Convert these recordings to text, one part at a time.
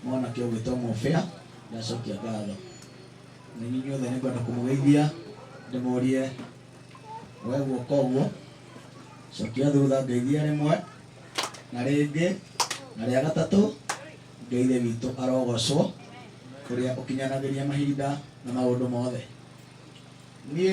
mwanake ũgwĩtwo mũbĩa ndacokia ngatho na inyuĩ inyuothe nĩ ngwenda kũmũgeithia ndĩmũrie we guoka ũguo cokia thutha ngeithia rĩmwe na rĩngĩ na rĩa gatatũ ngeithe witũ arogocwo ũrĩa ũkinyanagĩria mahinda na maũndũ mothe niĩ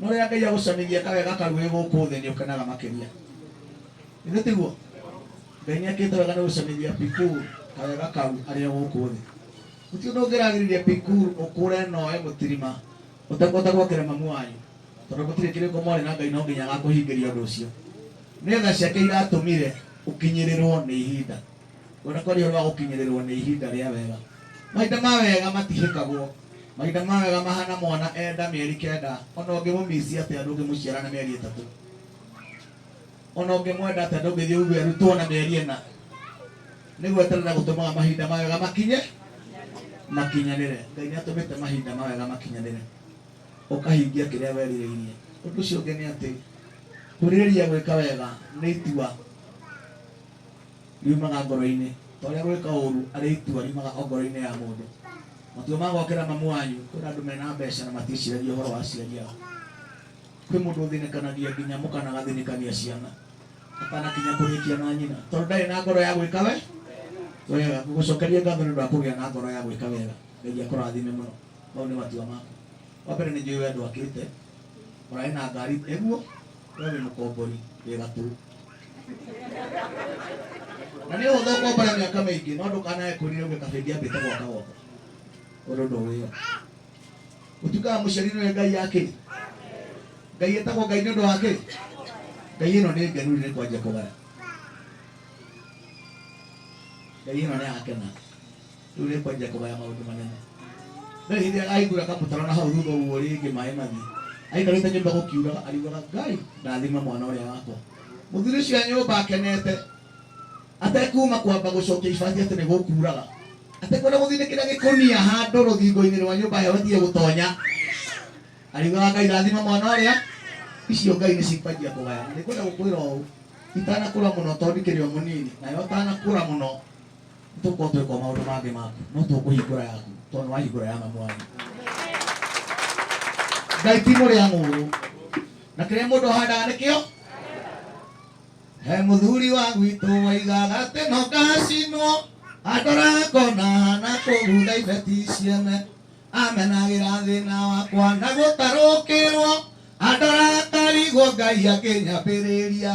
No rĩrĩa Ngai agũcamithia kawega kau wĩ gũkũ thĩ nĩ ũkenaga makĩria. Ithe tiguo? Ngai nĩ akĩte wega nĩ gũcamithia Pikuru kawega kau arĩ o gũkũ thĩ. Gũtirĩ ũndũ ũngĩragiririe Pikuru ũkũre na oe mũtirima ũtekũhota gwokera mamu wanyu, tondũ gũtirĩ kĩrĩko mwarĩ na Ngai no nginya agakũhingĩria ũndũ ũcio. Nĩ tha ciake iratũmire ũkinyĩrĩrwo nĩ ihinda. Ona kwa riũa rwa gũkinyĩrĩrwo nĩ ihinda rĩa wega. Mahinda ma wega matihĩkagwo. Mahinda ma wega mahana mwana e nda mĩeri kenda, ona ũngĩmũmici atĩa ndũngĩmũciara na mĩeri ĩtatũ. Ona ũngĩmwenda atĩa ndũngĩthiĩ uge arutwo na mĩeri ĩna. Nĩ gweterera gũtũmaga mahinda ma wega makinye, makinyanĩre. Ngai nĩ atũmĩte mahinda ma wega makinyanĩre, ũkahingia kĩrĩa werirĩirie. Ũndũ ũcio ũngĩ nĩ atĩ, kwĩrirĩria gwĩka wega nĩ itua. riumaga ngoro-inĩ, ta ũrĩa gwĩka ũũru arĩ itua riumaga o ngoro-inĩ ya mũndũ. Matua ma gokĩra mamu wanyu, kwĩna andũ mena mbeca na matiĩciragia ũhoro wa aciari ao. Kwĩ mũndũ ũthĩnĩkanagia nginya mũka na agathĩnĩkania ciana atanakinya kũrĩkia na nyina, tondũ ndarĩ na ngoro ya gwĩka we wega. Ngũgũcokeria ngatho nĩ ũndũ wa kũgĩa na ngoro ya gwĩka wega. Ngai akũrathime mũno. Mau nĩ matua maku. Wa mbere nĩ njũĩ we ndwakĩte, ũrarĩ na ngari, nĩguo? we wĩ mũkombori wĩ gatũ na nĩ ũhũthũ ũkombore mĩaka mĩingĩ no ndũkanae kũrire uge kabendi ambĩte gwaka gwaka ũndũ ũndũ wĩyo ũtuĩkaga mũciari nĩ ngai yake ngai ĩtagwo ngai nĩ ũndũ wake ngai ĩno nĩ ngenu rĩrĩ kwanjia kũgara ngai ĩno nĩ yakena rĩu rĩkwanjia kũgaya maũndũ manene rĩu hĩndĩ ĩrĩa ahingũra kamũtaro na hau thutha ũguo rĩngĩ maĩ mathiĩ aikarĩte nyũmba gũkiuraga ariugaga ngai ndathima mwana ũrĩa wakwa mũthuri ũcio a nyũmba akenete atekuma kwamba gũcokia ibati atĩ nĩ gũkuraga atekwenda gũthinĩkĩra gĩkũnia handũ rũthingo-inĩ rwa nyũmba heho ĩtige gũtonya ariugaga ngai rathima mwana ũrĩa icio ngai nĩ cikwanjia kũgayana nĩ kwenda gũkwĩra ũũ itanakũra mũno tondũ ikĩrĩ o mũnini nayo ũtanakũra mũno tũkorwo twĩka maũndũ mangĩ maku no tũkũhingũra yaku tondũ wahingũra ya mamu wanyu ngai ti mũrĩa ng'ũrũ na kĩrĩa mũndũ ahandaga nĩkĩo he mũthuri wa gwitũ waigaga atĩ no ngacinwo andorangona na kũgutha ibeti ciene amenagĩra thĩna wakwa na gũtarũkĩrwo andorangona ngai akĩnyambĩrĩria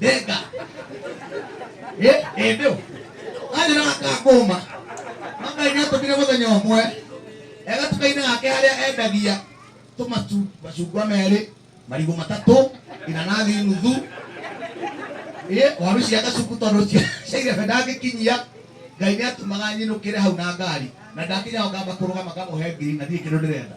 Denga. Eh, eh, ndio. Aje na akakoma. Manga ina to bile mutenya omwe. Ega tukaina ake haria endagia. Tumatu macungwa merĩ, marigũ matatũ, inanathi nuthu. Eh, waru cia gacuku tondũ cia cia irebe ndangĩkinyia. Ngai nĩ atumaga nyinũkĩre hau na ngari. Na ndakinya ho ngamba kũrũgama ngamũhe ngiri na ndirĩ kĩndũ ndĩrenda.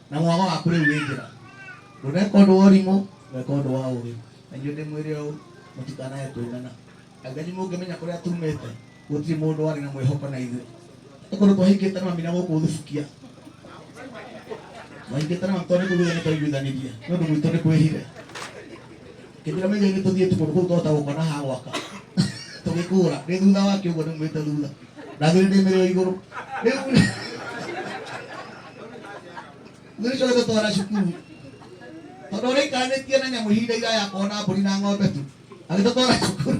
na mwago waku rĩu wĩ njĩra ndũneka ũndũ wa ũrimũ weka ũndũ wa ũgĩ na inyuĩ nĩ mwĩre ũũ mũtikanae kũigana angani mũngĩmenya kũrĩa tumĩte gũtirĩ mũndũ warĩ na mwĩhoko na ithuĩ nĩ kũndũ twahingĩte na mamina gũkũ thubukia twahingĩte na mamina tondũ nĩ kũiguithania twaiguithanirie nĩ ũndũ gwitũ nĩ kwĩhire Hĩndĩ ĩrĩa maigainĩ tũthiĩti kũndũ kũu twahota gũkona ha gwaka tũgĩkũra nĩ thutha wake ũguo nĩmwĩte thutha na thirĩ ndĩ mĩrĩo igũrũ rĩu thirĩ coke tũtwara cukuru tondũ ũrĩikanĩtie na nyamũ ihinda iraya kona mbũri na ng'ombe tu agĩtũtwara cukuru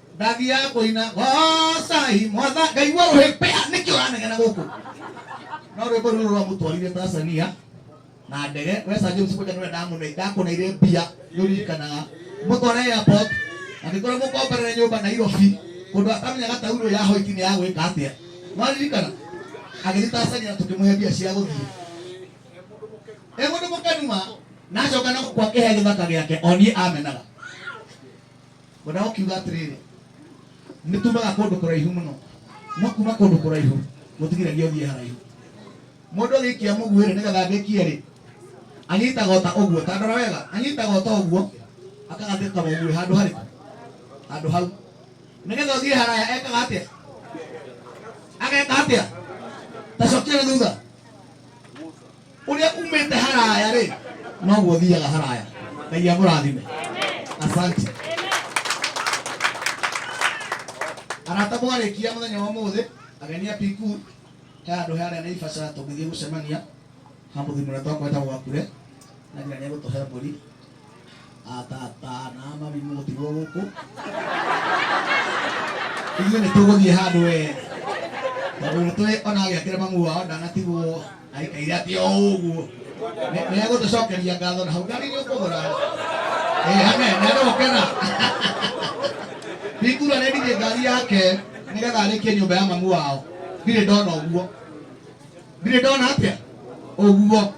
ndathiaga kũina gocai mwatha ngai wa rũhĩpea nĩkĩ ũranegena gũkũ no rwĩmbo rũrũ rwamũtwarire tanzania na ndege wesa james kũja nĩwe ndamũne- ndakũneire mbia nĩũririkanaga mũtware airport angĩkorwo mũkomberere nyũmba nairobi kũndũ atamenyaga tauro ya hoiti nĩ ya gwĩka atĩa mwaririkana agĩthiĩ tanzania tũkĩmũhe mbia cia gũthiĩ e mũndũ mũkenuma nacoka na gũkwa kĩhe gĩthaka gĩake o niĩ amenaga Wenda gũkiuga atĩrĩrĩ, nĩ tumaga kũndũ kũraihu mũno, no kuma kũndũ kũraihu gũtigiragia ũthiĩ haraihu. Mũndũ agĩikia mũguĩ rĩ, nĩgetha agĩkie rĩ, anyitaga ota ũguo, ta ndora wega, anyitaga ota ũguo, akagatĩka mũguĩ handũ harĩkũ? Handũ hau. Nĩgetha ũthiĩ haraya ekaga atĩa? Ageka atĩa? Ta cokia na thutha. Ũrĩa umĩte haraya rĩ, noguo thiaga haraya. Ngai amũrathime. Asante. Arata mwarĩkia mũthenya wa ũmũthĩ, ageni a PQ, he handũ harĩa nĩ Ibaca tũgĩthiĩ gũcemania, ha mũthuri mũrĩa twakweta gwakure, na nginya nĩ egũtũhe mbũri. atatana mami mutirwo guku ithuĩ nĩ tũgũthiĩ handũ we tondũ nĩ tũĩ ona agĩakĩra mamu wao ndanatigwo aikaire atĩ o ũguo nĩ egũtũcokeria ngatho na hau ngari nĩ ũkũgũra hane nĩ arokena ndingura nĩ ndigĩ ngari yake nĩgetha arĩkie nyũmba ya mamu wao ndirĩ ndona ũguo ndirĩ ndona atĩa ũguo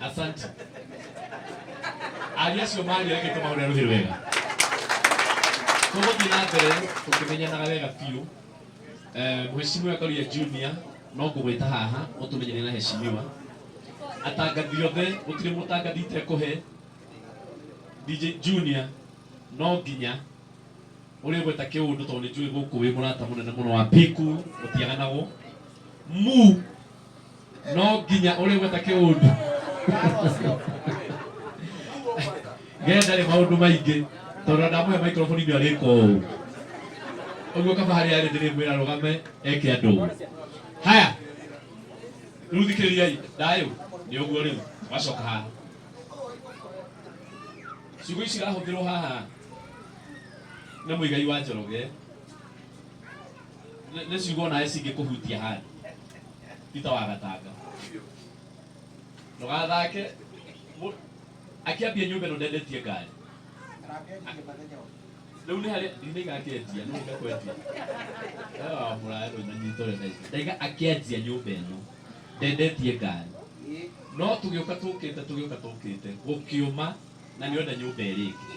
Asante. Aria acio maria reke tũmahũre rũhĩ wega. Tũgũthiĩ na mbere tũkĩmenyanaga wega biũ. Eh, Mheshimiwa Karia Junior no ngũgwĩta haha ũtũmenyane na heshimiwa. Atangathi othe gũtirĩ mũtangathi itekũhe DJ Junior no nginya ũrĩa gweta kĩũndũ tondũ nĩ njũĩ gũkũ wĩ mũrata mũnene mũno wa Piku ũtiaganagwo mu no nginya ũrĩ gweta kĩũndu ge ndarĩ maũndũ maingĩ tondũ ndamũhe microphone nĩ arĩka ũũ ũguo kaba harĩa arĩ ndĩrĩmwĩra rũgame eke andũ ũũ haya rĩu thikĩrĩriai ndayũ nĩ ũguo rĩu wacoka haha ciugo ici irahũthĩrwo haha nĩ mũigai wa njoroge nĩ ciugo nawe cingĩkũhutia handũ Peter wagatanga ndũgathake Mũ- akĩambia nyũmba ĩno ndendetie ngari rĩu nĩ harĩa nĩ igakĩendia nĩ igakwendia wa mũraya rũna nyitore na ici ndaiga akĩendia nyũmba ĩno ndendetie ngari no tũgĩũka tũkĩte tũgĩũka tũkĩte gũkĩũma na nĩone nyũmba ĩrĩ ĩngĩ